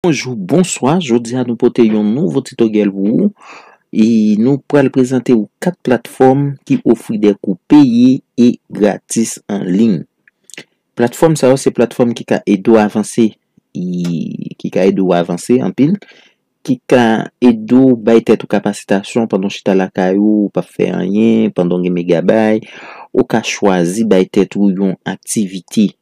Bonjou, bonswa, jodi a nou pote yon nouvo titoryèl pou ou e nou pral prezante ou 4 platfòm ki ofri de kou peye e gratis an liy. Platfòm sa yo se platfòm ki ka ede ou avanse e ki ka ede ou avanse anpil, ki ka ede ou bay tèt ou kapasitasyon pandan ou chita lakay ou, ou pap fè anyen, pandan ou gen megabay, ou ka chwazi bay tèt ou yon aktivite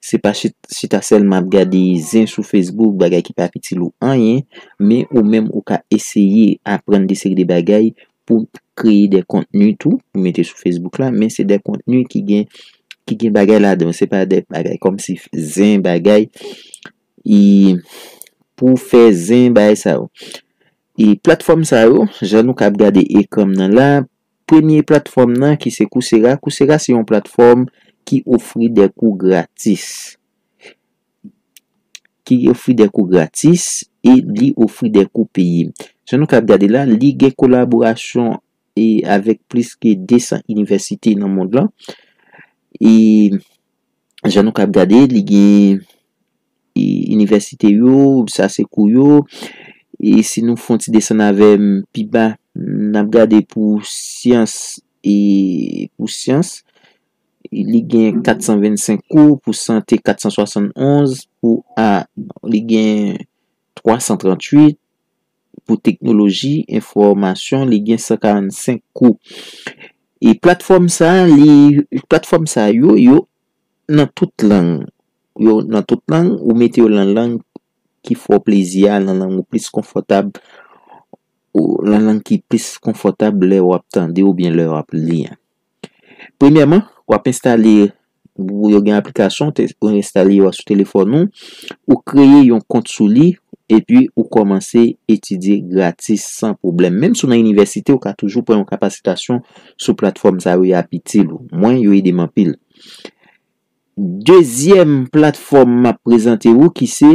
Se pa chita sèlman ap gade zen sou Facebook, bagay ki pa itil ou anyen, men ou menm ou ka eseye aprann de seri de bagay pou kreye de kontni tou, pou mete sou Facebook la, men se de kontni ki gen ki gen bagay ladan yo, se pa de bagay kòmsi zen bagay e pou fè zen bagay sa yo. E platfòm sa yo, jan nou ka ap gade ekran m nan la, Premye platfòm nan ki se Coursera, Coursera se yon platfòm ki ofri de kou gratis, ki ofri de kou gratis e li ofri de kou peye. Jan nou kab gade la, li gen kolaborasyon e avèk plis ke 200 inivèsite nan mond lan e. jan nou kab gade li gen inivèsite yo, sa se kou yo, e si nou fon ti desann avèm pi ba, nap gade pou syans e pou syans, li gen 425 kou, pou sante 471, pou a li gen 338, pou teknoloji enfòmasyon, li gen 145 kou. E platfòm sa, li, platfòm sa yo, yo nan tout lang. Yo nan tout lang, ou mete yo lan lang ki fè w plezi a, lan lang ou plis konfòtab, lan lang ki plis konfòtab lè wap tande oubyen lè wap li. Premyèman, w ap enstale pou yo gen aplikasyon pou enstale yo sou telefòn ou, ou kreye yon kont sou li epi ou kòmanse etidye gratis san pwoblèm. Menm si w nan inivèsite ou ka toujou pran yon kapasitasyon sou platfòm sa yo y ap itil ou. Mwen yo ede m anpil. Dezyèm platfòm m ap prezante ou ki se.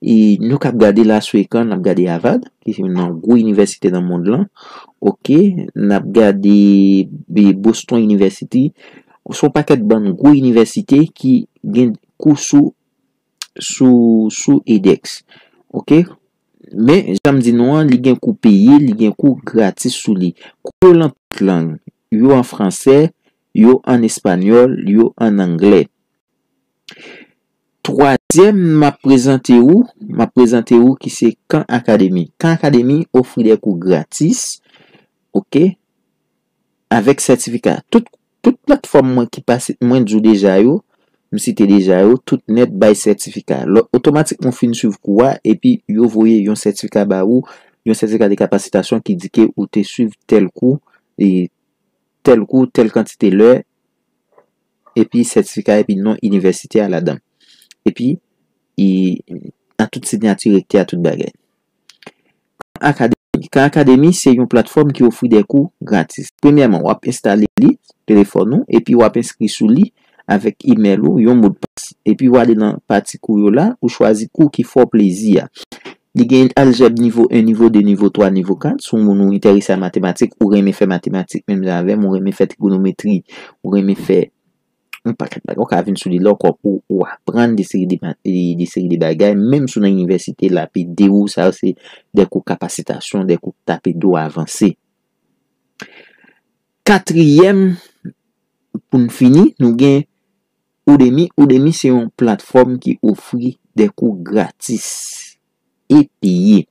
E nou kap gade la sou ekran nap gade Avad ki se youn nan gwo inivèsite nan mond lan ok nap gade Boston inivèsiti son pakèt bann gwo inivèsite ki gen kou sou sou sou edèks ok men janm di nou an li gen kou peye li gen kou gratis sou li kou yo lan tout lang yo an fransè yo an espanyòl yo an anglè Twazyèm m ap prezante ou, m ap prezante ou ki se Khan Academy. Khan Academy ofri de kou gratis, ok, avèk sètifika. Tout platfòm mwen ki pase, mwen di ou deja yo, m site deja yo, tout nèt bay sètifika. Lò, otomatikman ou fin swiv kou a, epi yo voye yon sètifika ba ou, yon sètifika de kapasitasyon ki di ke ou te swiv tèl kou, tèl kou, tèl kantite lè, epi sètifika epi non inivèsite a ladan. Epi, e, nan tout sinyati rektè a tout bagay. Kan Akademi Kan Akademi se yon platfòm ki ofri de kou gratis. Premyèman, w ap enstale li sou telefòn ou epi w ap enskri sou li avèk imèl ou, yon modpas. Epi w ale nan pati kou yo la, ou chwazi kou ki fè w plezi a. Li gen aljèb nivo 1, nivo 2, nivo 3, nivo 4. Si w moun ou enterese a matematik, ou renmen fè matematik menm jan avè m, ou renmen fè trigonometri, ou renmen fè yon pakèt bagay, ou ka vin sou li la ankò pou ou aprann de seri de mat, de seri de bagay menm si w nan inivèsite l ap ede ou, sa yo se de kou kapasitasyon, de kou k t ap ede w avanse. Katriyèm, pou n fini, nou gen. Udemy Udemy se yon platfòm ki ofri de kou gratis e peye.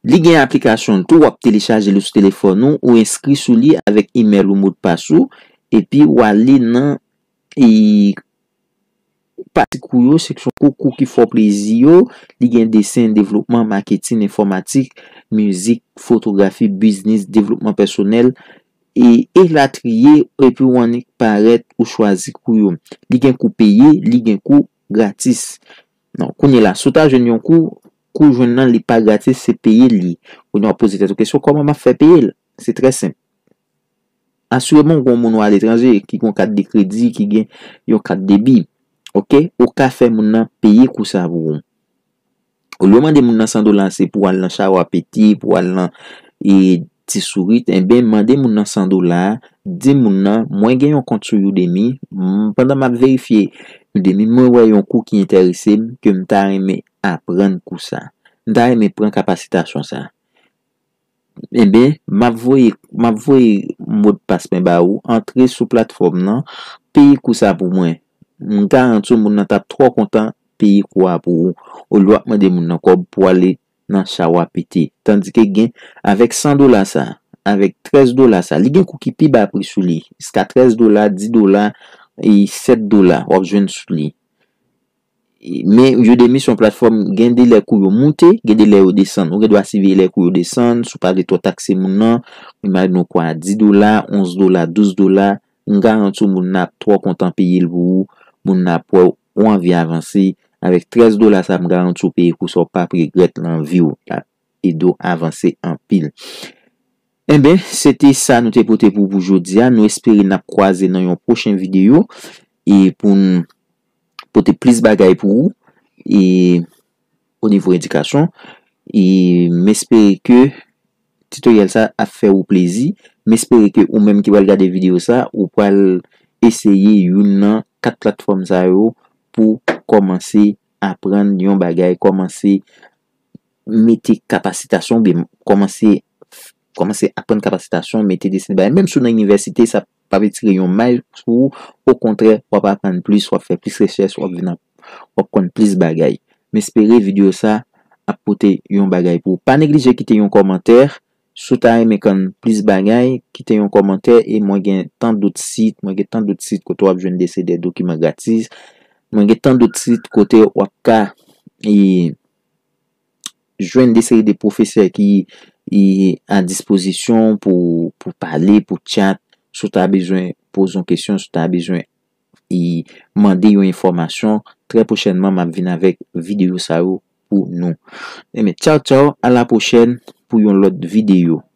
Li gen aplikasyon l tou, w ap telechaje li sou telefòn ou, ou enskri sou li avèk imèl ou, modpas ou, epi ou ale nan pati kou yo, seksyon kou, kou ki fè w plezi yo, li gen desen, devlopman, maketin, enfòmatik, mizik, fotografi, biznis, devlopman pèsonèl, e elatriye epi ou annik parèt ou chwazi kou yo li gen kou peye li gen kou gratis non kounye la si w ta jwenn yon kou kou jwenn nan li pa gratis se peye l ye kounye wap poze tèt ou kesyon kòman map fè peye l se trè senp asireman ou gon moun ou aletranje ki gon kat de kredi ki gen yon kat debi ok ou ka fè moun nan peye kou sa pou ou. Olye w mande moun nan 100 dola se pou al nan Chawa Pete, pou w al nan Ti Sourit, enben mande moun nan 100 dola, di moun nan, mwen gen yon kont sou Udemy, pandan m ap verifye Udemy, mwen wè yon kou ki enterese m, ke m ta renmen aprann kou sa. M ta renmen pran kapasitasyon sa. Enben, m ap voye m ap voye modpas mwen ba ou, antre sou platfòm nan, peye kou sa pou mwen. M garanti w moun nan t ap twò kontan peye kou a pou ou, olye w ap mande moun nan kòb pou ale nan cha w a pete. Tandike gen, avèk 100 dola sa, avèk 13 dola sa, li gen kou ki pi ba pri sou li, jiska 13 dola, 10 dola, e 7 dola w ap jwenn sou li. Men, Udemy se yon platfòm gen de lè kou yo moute, gen de lè yo desann. Ou gen dwa siveye lè kou yo desann, si w pa vle twò takse moun nan, imajine w kou a 10 dola, 11 dola, 12 dola, m garanti w moun nan ap twò kontan peye l pou ou, moun nan ap wè w ou anvi avanse, avèk 13 dola sa a m garanti w peye kou sa a w pap regrèt nan vi w, l ap ede w avanse anpil. Enben, se te sa nou te pote pou w pou jodi a, nou espere n ap kwaze nan yon pwochen videyo e pou n. pote plis bagay pou ou e o nivo edikasyon e m espere ke titoryèl sa ap fè ou plezi m espere ke ou menm ki pral gade videyo sa ou pral eseye youn nan 4 platfòm sa yo pou kòmanse aprann yon bagay kòmanse mete kapasitasyon oubyen kòmanse kòmanse aprann kapasitasyon mete desen bagay menm si w nan inivèsite sa p. pap etire yon may sou ou, okontrè wap aprann plis, wap fè plis rechèch, wap vin wap konn plis bagay. M espere video sa ap pote yon bagay pou ou. Pa neglije kite yon kòmantè, si w ta renmen konn plis bagay, kite yon kòmantè e mwen gen tan dot sit, mwen gen tan dot sit kote wap jwenn dese de dokiman gratis, mwen gen tan dot sit kote wap ka e. jwenn de seri de pwofesè ki a dispozisyon pou pale, pou tchat, si w ta bezwen poze yon kesyon, si w ta bezwen mande yon enfòmasyon, trè pwochènman m ap vin avèk videyo sa yo pou nou. Tchaw tchaw, a la pwochèn pou yon lòt videyo.